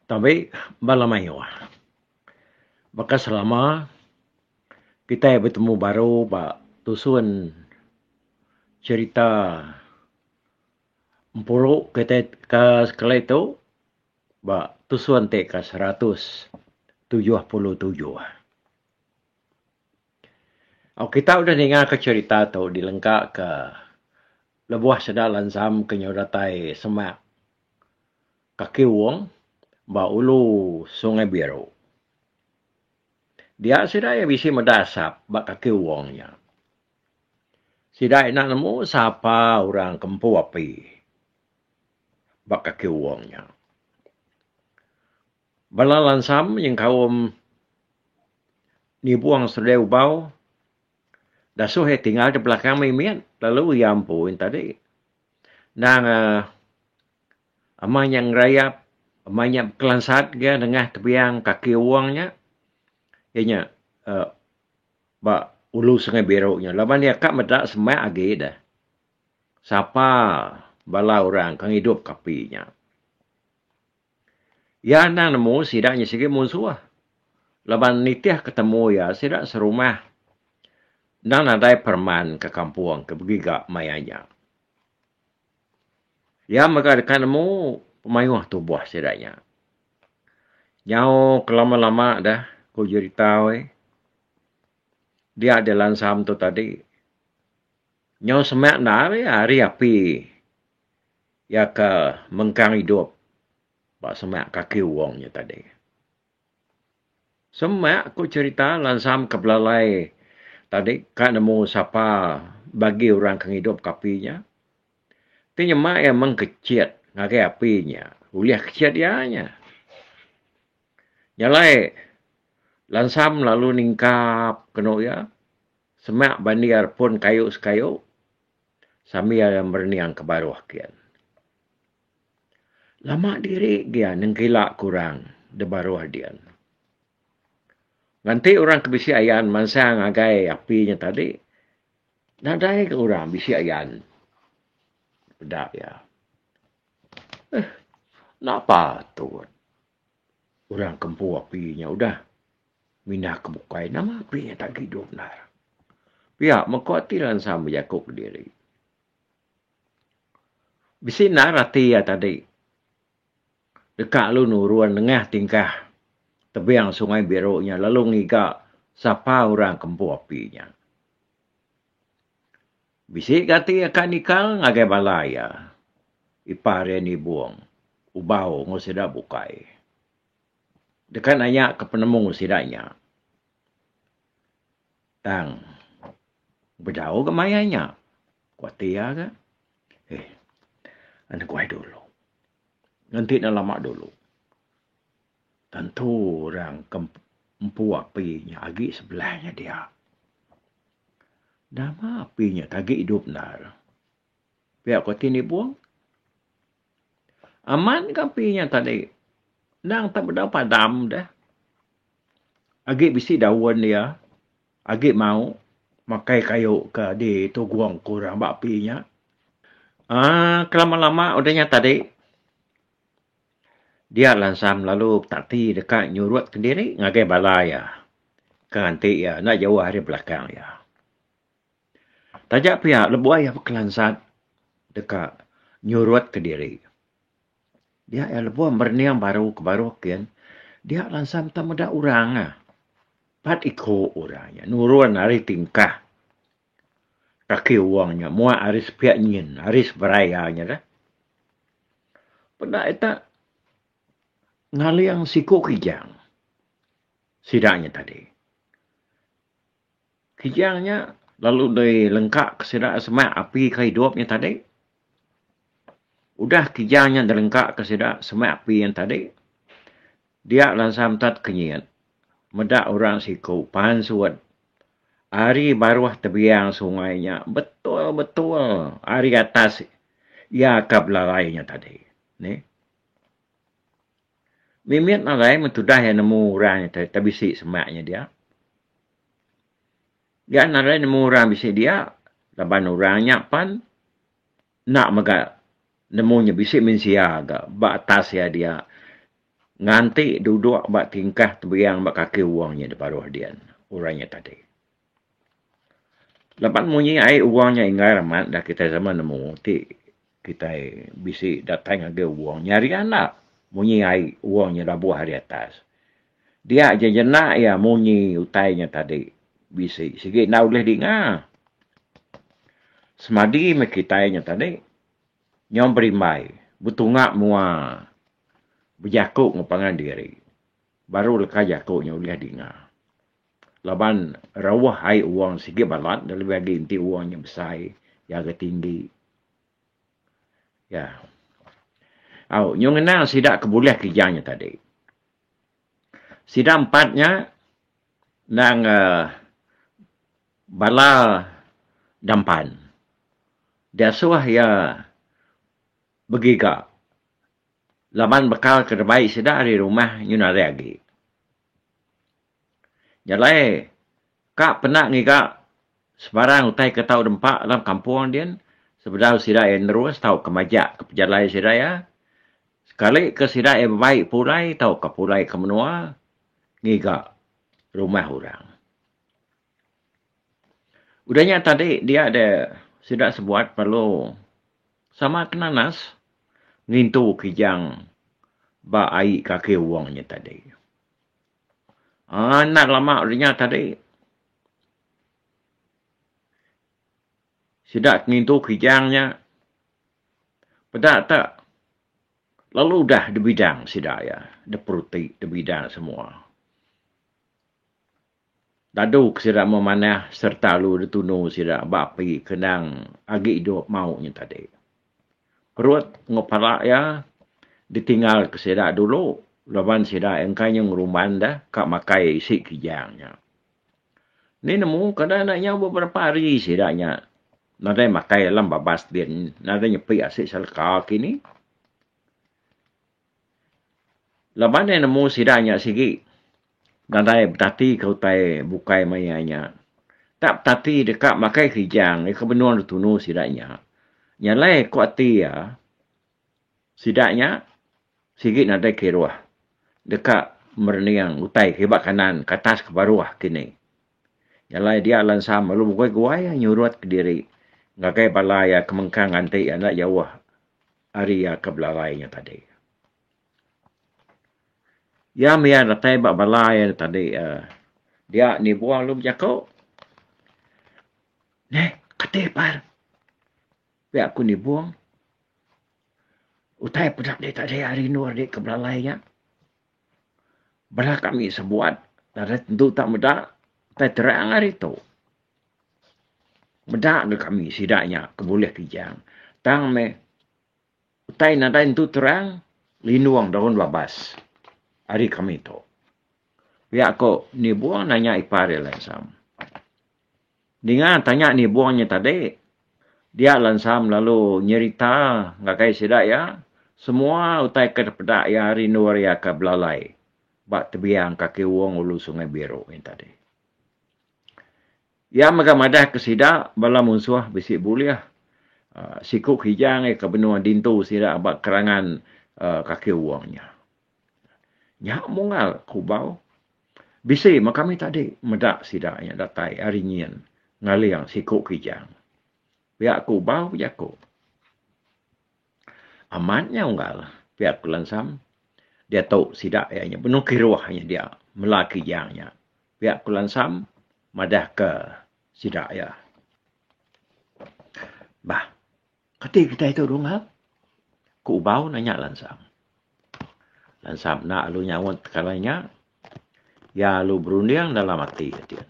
Tabi bala mayuh baka selama kitai betemu baru ba tusun cherita empuru kitai ka sekali tu ba tusun ti ke seratus tujuh puluh tujuh. Au kitai udah ninga ka cherita tu di lengka ka lebuh sida lansam ke nyau datai semak. Kaki Wong ba ulu Sungai Biru. Dia sida iya bisi meda asap ba kaki Wong nya. Sida enda nemu sapa orang ke empu api ba kaki Wong nya. Bala lansam nyengkaum nibung seledai ubau dasuh iya tinggal di belakang mimit lalu iya empu yen tadi. Endang uhh. Amah nya ngerayap amah nya bekelansat ga nengah tebiang kaki Awang nya iya nya uhh ba Ulu Sungai Biru nya laban iya ka meda semak agi deh sapa bala orang ke ngidup ka api nya. Iya anang nemu sida nya sigi munsuh laban nitih ke temu iya sida serumah enda nadai pereman ke kampung ke begiga maya nya. Iya mega deka nemu pemayuh tubuh sida nya. Nyau ke lama-lama deh ku jerita wei dia di lansam tu tadi nyau seme enda ari ari api iya ke mengkang idup ba seme kaki uong nya tadi. Semak ku cerita lansam ke belalai tadi ka nemu sapa bagi orang ke ngidup ka api nya. Ti nyema iya meng kechet ngagai api nya ulih kechet iya nya. Nya alai lansam lalu ningkap kenu iya semak bandi iya repun kayu sekayu sambil iya merening ke baruh kian. Lama diri gia nengkila ke orang da baruh din. Nganti orang ke bisi ayan mansang agai api nya tadi nadai ga orang bisi ayan peda iya. Uhh enda patut orang ke empu api nya udah mindah ke bukai nama api nya tagi duduk enda. Pia meh ku ati lansa bejaku ke diri. Bisi enda reti iya tadi. Deka lalu nurun nengah tingkah tebing Sungai Biru nya lalu ngiga sapa orang ke empu api nya. Bisi ga ti aka nikal ngagai bala iya, Ipar iya Nibong, Ubau enggau sida bukai. Deka nanya ke penemu sida nya. Tang, bejauh ga maya nya. Ku ati iya ga. Eh, neguai dulu. Ngenti ne lama dulu. Tentu orang ke empu api nya agi sebelah nya dia. Nama api nya agi idup endar. Pia ku ati Nibong. Amat gapi nya tadi. Endang tak bedau padam deh. Agi bisi daun dia. Agi mau makai kayu ke di tugong ke orang ba api nya. Aaa kelama-lama udah nya tadi dia lansam lalu betati deka nyurutkan diri ngagai bala iya ke nganti iya enda jauh ari belakang iya. Taja pia lebuh iya bekelansat deka nyurutka diri. Dia iya lebuh berening baru ke baru kin dia lansat meda meda orang ah. Pat iko orang nya nurun ari tingkah kaki wong nya muak ari sepiak nyin ari seberai iya nya dah. Peda ita ngaling siku kijang sida nya tadi. Kijang nya lalu dilengkaka sida semak api ka idup nya tadi. Udah kijang nya dilengkaka sida semak api nya tadi, dia lansa metet kenyit. Meda orang siku pan suwed ari baruh tebiang sungai nya betul-betul ari atas iya ka belalai nya tadi. Neh. Mimit marai mun tudah iya nemu orang nya tai tai bisi semak inya dia. Gian arai nemu orang bisi dia laban orang nya pan enda mega nemu inya bisi mensia ga ba atas iya dia nganti duduk ba tingkah tebiang ba kaki wong nya da baruh dian orang nya tadi. Laban munyi ai wang nya enggai amat enda kitai sama nemu ti kitai bisi datai ngagai wang nya ari anak munyi ai wang nya labuh ari atas. Dia ja jenak iya munyi utai nya tadi bisi sigi enda ulih dinga. Semadi meh kitai nya tadi nyau berimbai betunga mua bejaku enggau pangan diri baru leka jaku nya ulih dinga. Laban rauh ai wang sigi balat dah lebih agi enti wang nya besai iya ga tinggi. Ya. Au nyau ngenang sida ke bulih ke iya nya tadi. Sida empat nya endang uhh bala dampan diasuh iya begiga laban bekal ke rebai sida ari rumah nyau narit agi. Nya alai ka pena ngiga sebarang utai ke tau nempa dalam kampung din sebedau sida iya nerus tauka majak ke pejalai sida iya. Sekali ke sida iya bebai pulai tauka pulai ke menua ngiga rumah orang. Udah nya tadi dia deh sida sebuat perlu sama ke nanas ngintu kijang ba ai kaki wong nya tadi. Anak lama ringat tadi. Sida ngintu kijang nya peda tak lalu udah dibidang sida iya. Diperuti, dibidang semua. Dadu ke sida memanah sereta lalu ditunu sida ba api kendang agi idup mauk nya tadi. Perut enggau pala iya ditinggal ke sida dulu laban sida iya engka inya ngerumban deh ka makai isi kijang nya. Enti nemu kada enda inya beberapa hari sida nya nadai makai alam babas din nadai nyepi asi seleka kini. Laban iya nemu sida nya sigi nadai betatika utai bukai maya nya. Enda betati deka makai kijang nya ke benung dep tunu sida nya. Nya alai ku ati iya sida nya sigi nadai kiruh deka merening utai ke iba kanan ke atas ke baruh kini. Nya alai dia lensa melu bugoi-gugoi nyurut diri ngagai bala iya ke mengkang nganti iya enda jauh. Ari iya ke belalai inya tadi. Iya mih iya datai ba bala iya da tadi uhh dia nibuh lalu bejaku. Neh kati par pia ku nibung utai peda andi tadi ari rindu andi ke belalai inya. Bala kami sebuat nadai tentu tak meda utai terang ari tu. Meda ke kami sida nya ke bulih Kijang tang meh utai nadai tentu terang linung daun babas ari kami tu. Pia ko Nibong nanya ipar iya langsung. Ninga tanya nibung nya tadi, dia lansam lalu nyerita ngagai sida iya semua utai ke dipeda iya ari endur iya ke belalai ba tebiang kaki uung ulu Sungai Biru nya tadi. Iya mega madahka sida bala munsuh bisi bulih siku Kijang ke benung dintu sida ba kerangan kaki uung nya. Nya Mungal Kubau bisi meh kami tadi meda sida nya datai ari nyin ngaling siku Kijang. Pia Kubau bejaku, Amat nya unggal pia ku Lansam diatu sida iya nya benung kiruh nya dia mela Kijang nya. Pia ku Lansam madahka sida iya. Bah. Kati kitai tu Dungap? Ku Ubau nanya Lansam. Lansam enda alu nyaut tekalai nya. Iya alu berunding dalam ati kitin.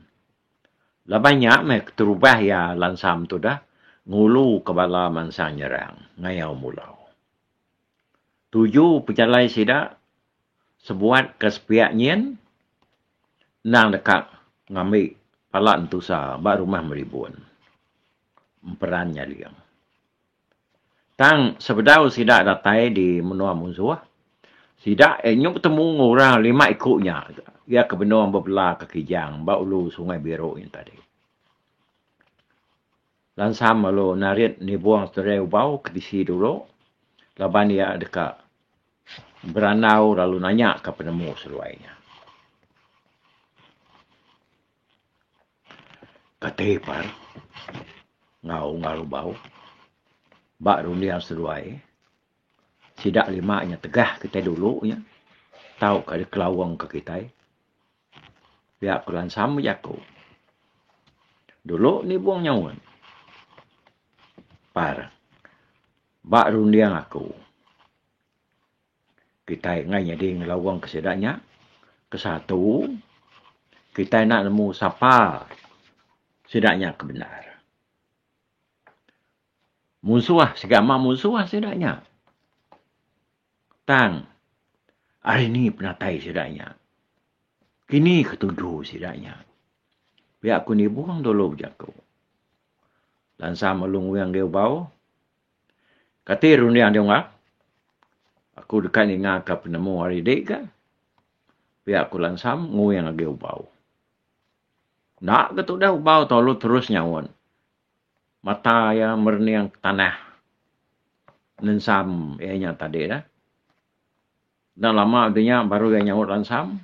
Laban nya meh keterubah iya Lansam tudah nguluka bala mansang nyerang ngayau Mulau. Tuju pejalai sida sebuat ke sepiak nyin endang deka ngambi pala entusa ba Rumah Meribun. emperan nyaling. Tang sebedau sida datai di menua Munzuh, sida iya nyau betemu enggau orang lima iku nya iya ke benung bebela ke Kijang ba ulu Sungai Biru nya tadi. Lansam lalu narit nibung seterai ubau ke tisi dulu laban iya deka berandau lalu nanya ka penemu seduai nya. Kati ipar enggau ngarubau ba runding seduai sida lima nya tegah kitai dulu nya tauka dikelaungka kitai pia ku lansa meh jaku dulu nibung nyaun par ba runding aku. Kitai enggai nyadi ngelawangka sida nya. Kesatu, kitai enda nemu sapa sida nya ke bendar. Munsuh segama munsuh sida nya. Tang ari ni penatai sida nya? Kini ketuju sida nya? Pia ku Nibong dulu bejaku. Lansa Malu Nguing Diau Bau. Kati runding dau ngap? Aku deka ningaka penemu ari di ga. Pia aku lansam nguing agi ubau. Enda ga tudah ubau tu lalu terus nyaun. Mata iya merening ke tanah nensam iya nya tadi dah. Enda lama udah nya baru iya nyaut lansam.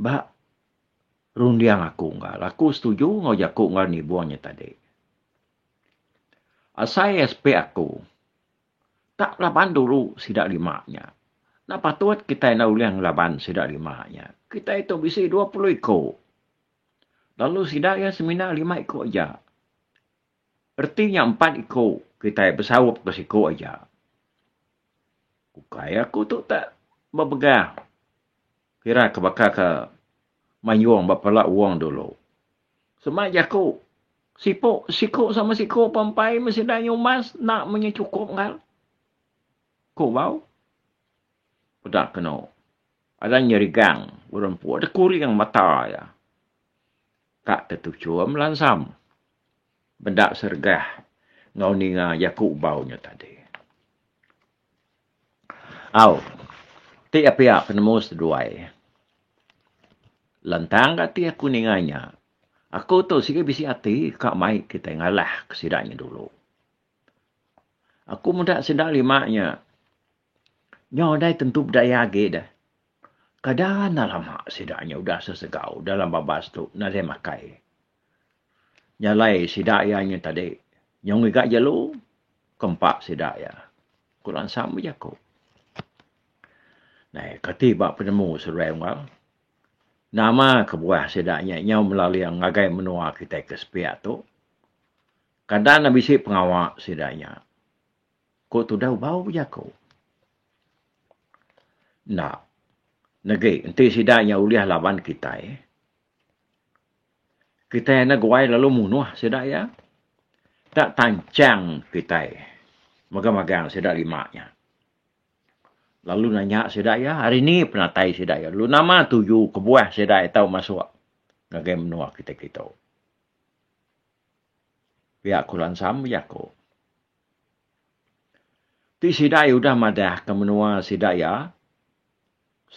Ba Runding aku enggau aku setuju enggau jaku ngaran Ibuh nya tadi. Asai aspek aku, tak laban dulu sida lima nya. Enda patut kitai enda ulih ngelaban sida lima nya. Kitai tu bisi dua puluh iku. Lalu sida iya semina lima iku aja. Reti nya empat iku kitai besaup ke siku aja. Ukai aku tu tak bepegang. Kira ke baka ke mayung ba pala uong dulu. Sema jaku, Sipu siku sama siku pa empai meh sida nyumbas enda meh nya chukup enggau. Ku bau. Peda kenu. Ada nyerigang urang empu ada kuring mata iya. Ka te tuchum lansam bendap seregah enggau ninga jaku bau nya tadi. Au. Ti iya pia penemu seduai. Lantang ga ti aku ninga nya, aku tu sigi bisi ati ka mai kitai ngalah ke sida nya dulu. Aku meda sida lima nya nyau dai tentu bedaya agi deh. Kada anang lama sida nya udah sesegau dalam babas tu nadai makai. Nyalai sida iya nya tadi nyau ngiga jelu ke empa sida iya, ku Lansam bejaku. Nai kati ba penemu seduai unggal? Nama kebuah sida nya nyau melaling ngagai menua kitai ke sepiak tu? Kada enda bisi pengawa sida nya. Ku Tudau bau bejaku. Enda. Negi enti sida nya ulih laban kitai, kitai enda guai lalu munuh sida iya. Enda tanchang kitai magang-magang sida lima nya. Lalu nanya sida iya, ari ni penatai sida iya lalu nama tuju kebuah sida iya tau masuk ngagai menua kitai kitu. Pia Ku Lansam bejaku. Ti sida iya udah madahka menua sida iya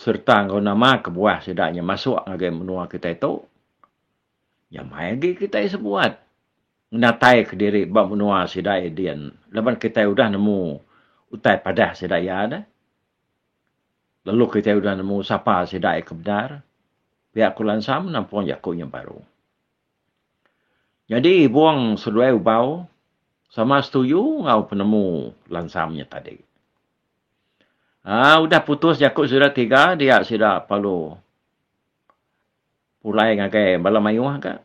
sereta enggau nama kebuah sida nya masuk ngagai menua kitai tu, nya mai agi kitai sebuat ngenataika diri ba menua sida iya din laban kitai udah nemu utai padah sida iya deh. Lalu kitai udah nemu sapa sida iya ke bendar. Pia ku Lansam nampung jaku nya baru. Nyadi Ibong seduai Ubau sama setuju enggau penemu Lansam nya tadi. Aa udah putus jaku sida tiga dia sida perlu pulai ngagai bala mayuh ka.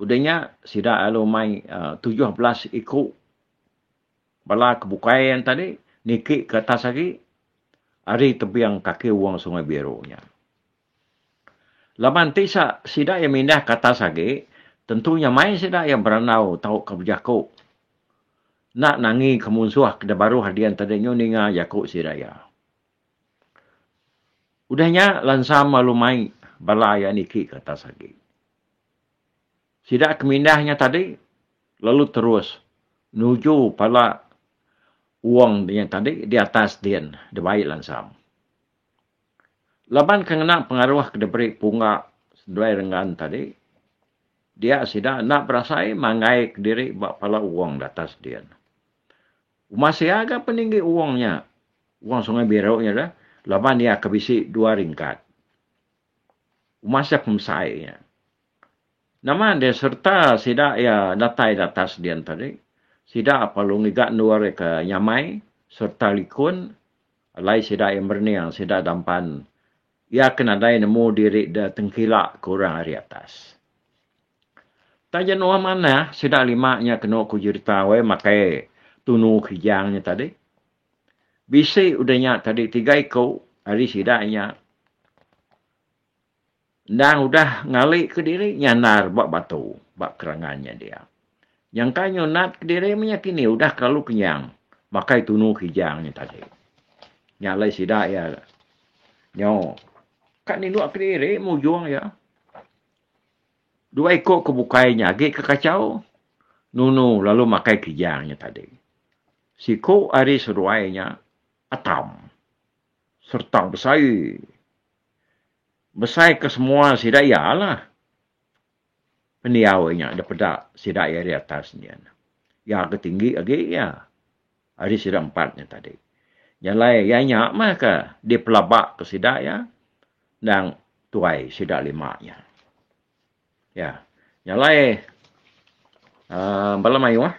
Udah nya sida lalu mai tujuh belas iku bala ke bukai ain tadi niki ke atas agi ari tebing kaki wong Sungai Biru nya. Laban ti sa, sida iya mindah ke atas agi, tentu nyamai sida iya berandau tauka bejaku enda nangi ke munsuh ke dibaruh dian tadi nyu ninga jaku sida iya. Udah nya lansam lalu mai bala iya niki ke atas agi. Sida ke mindah nya tadi lalu terus nuju pala wong nya tadi di atas din dibai lansam. Laban ke ngena pengaruh ke diberi punga Senduai Renggan tadi, dia sida enda berasai manggaika diri ba pala Owong Datas din. Uma sia ga peninggi Owong nya, Owong Sungai Biru nya dah, laban iya ke bisi dua ringkat. Uma sia pemesai nya. Nama deh sereta sida iya datai datas din tadi, sida apai lu ngiga endur iya ke nyamai sereta likun Alai sida iya merening sida dampan iya ke nadai nemu diri deh tengkila ke orang ari atas. Taja nuan manah sida lima nya kenu ku jerita weh makai tunu kijang nya tadi. Bisi udah nya tadi tiga iku ari sida nya. Endang udah ngali ke diri nyandar ba batu ba kerangan nya dia. Nyangka nyunat ke diri menya kini udah kelalu kenyang makai tunu kijang nya tadi. Nya alai sida iya nyo ka nindu ke diri mujung iya. Dua iko ke bukai nya agi ke kachau nunu lalu makai kijang nya tadi. Siko ari seduai nya atam sereta besai. Besai ke semua sida iya lah pendiau inya dipeda sida iya di atas nyin. Iya ke tinggi agi iya ari sida empat nya tadi. Jalai iya nya meh ke dipelaba ke sida iya endang tuai sida lima nya. Iya. Jalai uhh bala mayuh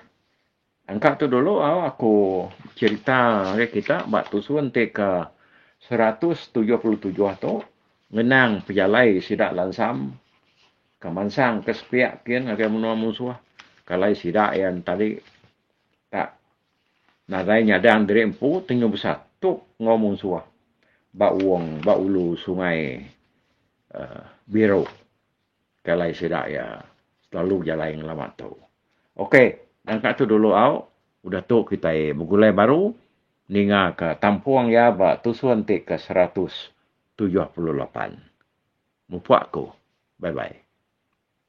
Engka tu dulu aku cerita ngagai kita ba tusun ti ke seratus tujuh puluh tujuh tu ngenang pejalai sida lansam ke mansang ke sepiak kin ngagai menua musuh kalai sida iya enti tadi tak nadai nyadang diri empu tenyu besatup enggau musuh ba uong ba ulu sungai Biru. Jalai sida iya selalu jalai ngelama tu. Ok nyang ka tu dulu au udah tu kitai begulai baru ninga ka tampung iya ba tusun ti ke seratus tujuh puluh lapan. Mupak ku. Bye bye.